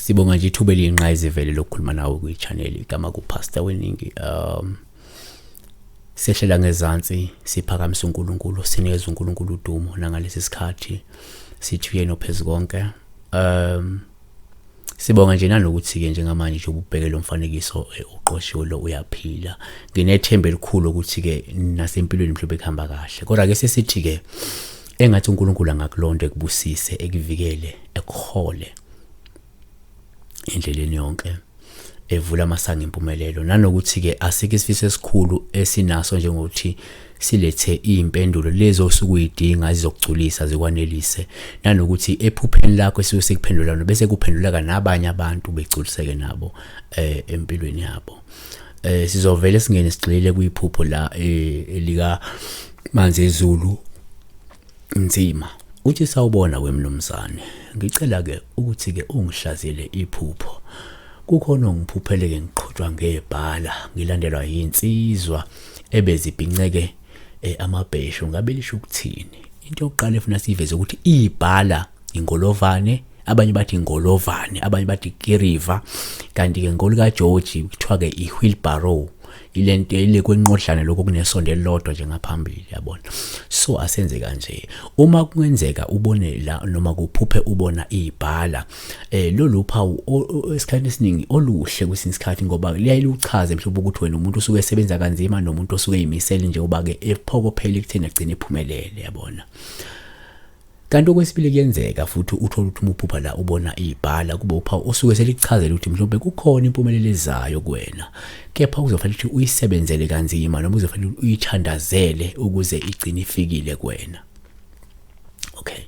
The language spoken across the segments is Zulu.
sibonga nje ithuba eliyinqayizivele lokukhuluma nawe kwi-channel igama kupastor weningi um sehlela ngezansi siphakamisa uNkulunkulu sinikeza uNkulunkulu udumo nangalesi sikhathi sithi uyena ophezu konke um Sibonga nje nanokuthi-ke njengamanje nje ububheke lo mfanekiso eh, uqoshiwe lo uyaphila. Nginethemba elikhulu ukuthi-ke nasempilweni mhlawumbe kuhamba kahle. Kodwa-ke sesithi-ke engathi uNkulunkulu angakulonda ekubusise, ekuvikele, ekuhole endleleni yonke. evula amasango empumelelo nanokuthi ke asike isifiso esikhulu esinaso njengokuthi silethe impendulo lezi osuke uyidinga zizokugculisa zikwanelise nanokuthi ephupheni lakho esuke sikuphendulana bese kuphenduleka nabanye abantu begculiseke nabo eh empilweni yabo eh sizovele singene sigxile kuyiphupho la eh, elika manzi ezulu Nzima. Uthi sawubona wemnumzane. Ngicela ke ukuthi ke ungihlazele iphupho. Kukhona ongiphupheleke ngiqhutshwa ngebhala, ngilandelwa yinsizwa ebezibhinceke eh, amabheshu ngabe lisho ukuthini. Into yokuqala efuna siveze ukuthi ibhala ingolovane abanye bathi ingolovane abanye bathi kiriva kanti-ke ngolo kageorgi kuthiwa-ke i-wheelbarrow ile nto ile kwenqodlana lokho kunesonto elilodwa nje ngaphambili yabona so asenze kanje uma kungenzeka ubone la noma kuphuphe ubona ibhala eh lolu phawu esikhathi esiningi oluhle kwesinye isikhathi ngoba liyaye luchaze mhlawumbe ukuthi wena umuntu usuke esebenza kanzima nomuntu osuke eyimisele nje uba-ke ephokophele ekutheni agcine ephumelele yabona Kanti okwesibili kuyenzeka futhi uthole ukuthi uma uphupha la ubona ibhala kube uphawu osuke selikuchazela ukuthi mhlawumbe kukhona impumelelo ezayo kuwena kepha kuzofanele ukuthi uyisebenzele kanzima noma uzofanele uyithandazele ukuze igcine ifikile kuwena okay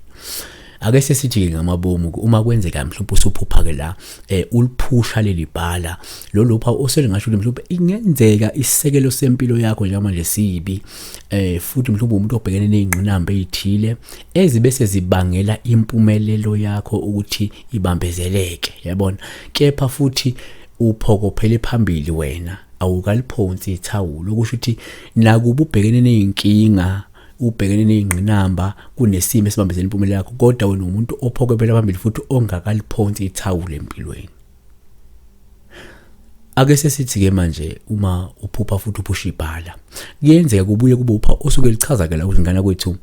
ake sesithi-ke ngamabomu uma kwenzeka mhlawumbe usuphupha-ke la um uliphusha leli bhala lolupha oselingasho ukuthi mhlawumbe ingenzeka isisekelo sempilo yakho njengamanje sibi eh futhi mhlawumbe umuntu obhekene nezingqinamba ezithile ezibe sezibangela impumelelo yakho ukuthi ibambezeleke yabona kepha futhi uphokophele phambili wena awukaliphonsi ithawulo kusho ukuthi nakuba ubhekene nezinkinga ubhekene nezingqinamba kunesimo esibambezela impumelelo yakho kodwa wena umuntu ophokopela phambili futhi ongakaliphonsi ithawulo empilweni ake sesithi-ke manje uma uphupha futhi uphusha ibhala kuyenzeka kubuye kube upha osuke lichaza-ke la ukuthi ngane kwethu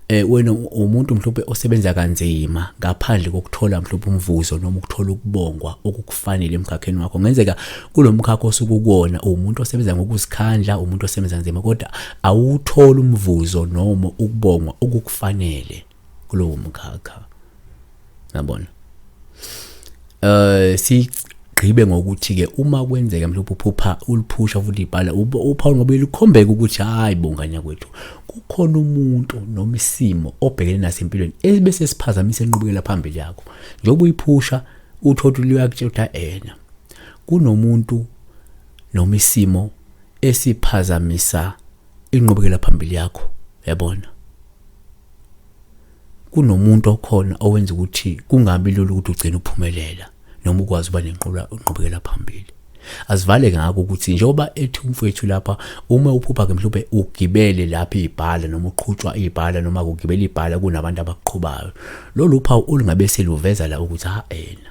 eh wena umuntu mhlawumbe osebenza kanzima ngaphandle kokuthola mhlawumbe umvuzo noma ukuthola ukubongwa okukufanele emkhakheni wakho ngenzeka kulomkhakha osukukona umuntu osebenza ngokuzikhandla umuntu osebenza nzima kodwa awuthola umvuzo noma ukubongwa okukufanele kulowo mkhakha yabona eh si gqibe ngokuthi ke uma kwenzeka mhlawumbe uphupha uliphusha futhi ibhala upha ngoba likhombeka ukuthi hayi bonganya kwethu kukhona umuntu noma isimo obhekene naso empilweni ebese siphazamisa enqubekela phambili yakho njengoba uyiphusha uthothi luyakutshela ena kunomuntu noma isimo esiphazamisa inqubekela phambili yakho yabona kunomuntu okhona owenza ukuthi kungabi lula ukuthi ugcine uphumelela noma ukwazi uba nenqubekela phambili asivale ngako ukuthi njengoba ethi umfowethu lapha uma uphupha-ke mhlawumbe ugibele lapha ibhala noma uqhutshwa ibhala noma kugibela ibhala kunabantu abaqhubayo lolu phawu olungabe seluveza la ukuthi ha ena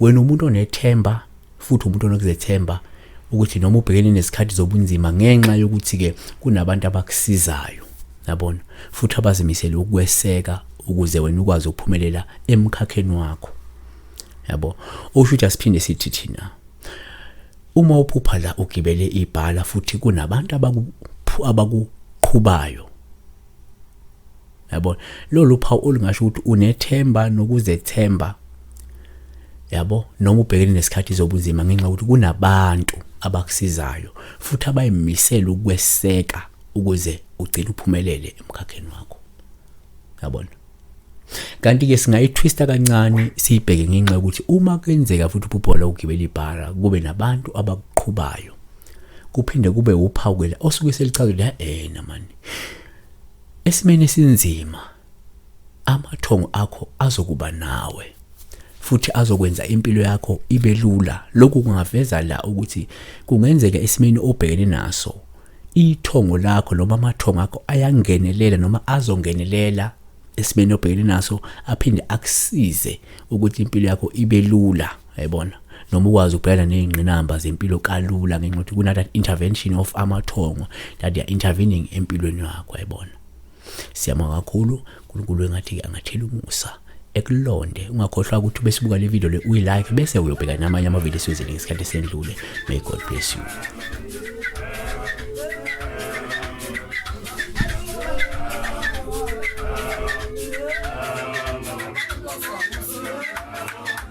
wena umuntu onethemba futhi umuntu onokuzethemba ukuthi noma ubhekene nezikhathi zobunzima ngenxa yokuthi-ke kunabantu abakusizayo yabona futhi abazimisele ukweseka ukuze wena ukwazi ukuphumelela emkhakheni wakho yabo usho ukuthi asiphinde sithi thina uma uphupha la ugibele ibhala futhi kunabantu abakuqhubayo yabo lolu phawu olungasho ukuthi unethemba nokuzethemba yabo noma ubhekene nesikhathi zobunzima ngenxa ukuthi kunabantu abakusizayo futhi abayimisele ukweseka ukuze ugcine uphumelele emkhakheni wakho yabona kanti-ke singayithwista kancane siyibheke ngenxa yokuthi uma kwenzeka futhi uphuphola ukugibela ibhara kube nabantu abakuqhubayo kuphinde kube uphawu-ke osuke selichazwe la ena mani Esimeni esinzima amathongo akho azokuba nawe futhi azokwenza impilo yakho ibe lula. Lokhu kungaveza la ukuthi kungenzeka esimeni obhekene naso ithongo lakho noma amathongo akho ayangenelela noma azongenelela esimeni obhekene naso aphinde akusize ukuthi impilo yakho ibe lula. yayibona noma ukwazi ukubhekana nezingqinamba zempilo kalula ngenxa yokuthi kuna that intervention of amathongo that they are intervening empilweni yakho yayibona siyama kakhulu uNkulunkulu engathi angathela umusa ekulonde ungakhohlwa ukuthi besibuka le video le uyi like bese uyobheka namanye ama video siwezele ngesikhathi sendlule may god bless you